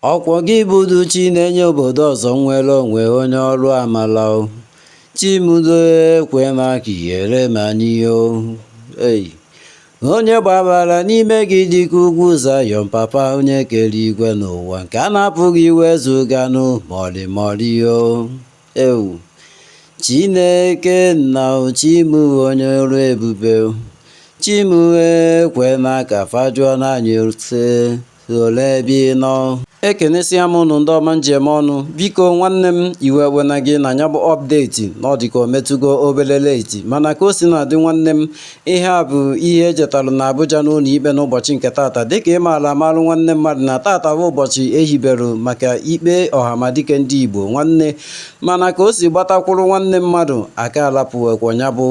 Ọkwọ gị bụdu chi na-enye obodo ọzọ nnwere onwe onye ọrụ amala o chi mụ doo ekwena ka ihere mee anyị o ei onye gbabara n'ime gị dịka ugwu zayọn papa onye kere igwe na ụwa nke a na-apụghị iwezuga nụ mọlịmọlị o ewu chineke nna o chi mụ onye ọrụ ebube o chi mụ ekwena ka fa jụọ anyị ote Olee ebe ị nọ? Ekenesia m ụnụ ndị ọma m ji eme ọnụ. Biko nwanne m iwe ewena gị na nya bụ update na ọ dịka o metụgo obere late mana ka o si na-adị nwanne m ihe a bụ ihe e jetalụ na Abuja n'ụlọ ikpe n'ụbọchị nke tata dịka ị maara amalụ nwanne mmadụ na tata bụ ụbọchị e hiberu maka ikpe ọhamadike ndị Igbo nwanne mana ka o si gbatakwụrụ nwanne mmadụ aka alapụwekwa nya bụ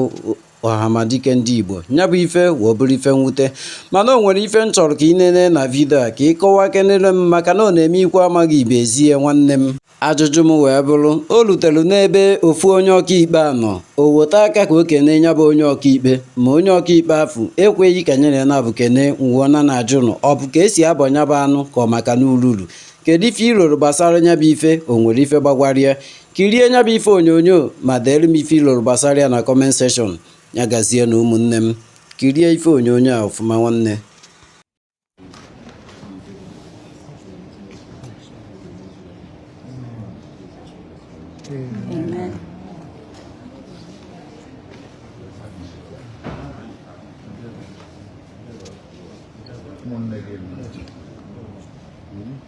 Ọhamadike ndị Igbo nya bụ ife wee bụrụ ife mwute mana o nwere ife m chọrọ ka ị nene na video a ka ị kọwakenere m maka na ọ na-eme ikwu amaghị ibe ezi ya nwanne m ajụjụ m wee bụrụ o rutere n'ebe ofu onye ọkaikpe a nọ o weta aka ka o kene nya bụ onye ọkaikpe ma onye ọkaikpe afụ ekweghị ka nyere naabọ kene m wee na na-ajụ nụ ọ bụ ka e si abọ nya bụ anụ ka ọ maka na ururu kedu ife i roro gbasara nya bụ ife o nwere ife gbagwara ya kirie nya bụ ife onyonyo ma deere m ife i loro gbasara ya na comment section ya gazie na ụmụnne m kirie ife onyonyo a ọfụma nwanne Amen.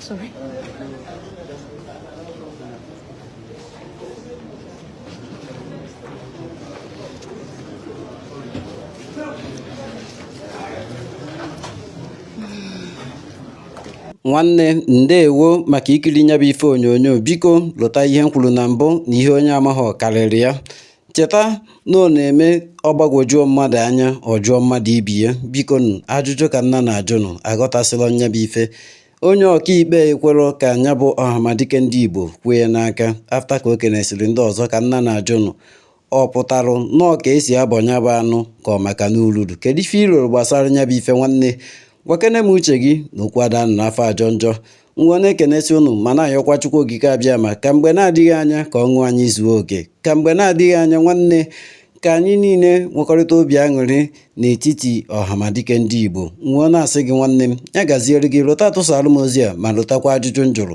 Sorry. nwanne ndeewo maka ikiri nya bụ ife onyonyo biko lota ihe m kwuru na mbụ na ihe onye amaghị karịrị ya Cheta na ọ na-eme ọ gbagwojuo mmadụ anya ọ jụọ mmadụ ibe ya biko nụ ajụjụ ka m na na-ajụ nụ aghọtasịla nya bụ ife onye ọkaikpe ekwerọ ka nya bụ ọhamadike ndị Igbo kwe ya n'aka after ka o kenesịrị ndị ọzọ ka m na na-ajụ nụ ọ pụtarụ na ọ ka e si abọ nya bụ anụ ka ọ maka n'ururu kedu ife i roro gbasara nya bụ ife nwanne gwakene m uche gị na okwu ada anọ n'afọ ajọ njọ m wee na-ekenesi ụnụ ma na-ayọkwa Chukwu Okike Abịama ka mgbe na-adịghị anya ka ọṅụ anyị zuo oke ka mgbe na-adịghị anya nwanne ka anyị niile nwekọrịta obi aṅụrị n'etiti ọhamadike ndị Igbo m wee na-asị gị nwanne m ya gaziere gị lota tụsaara m ozi a ma lotakwa ajụjụ m jụrụ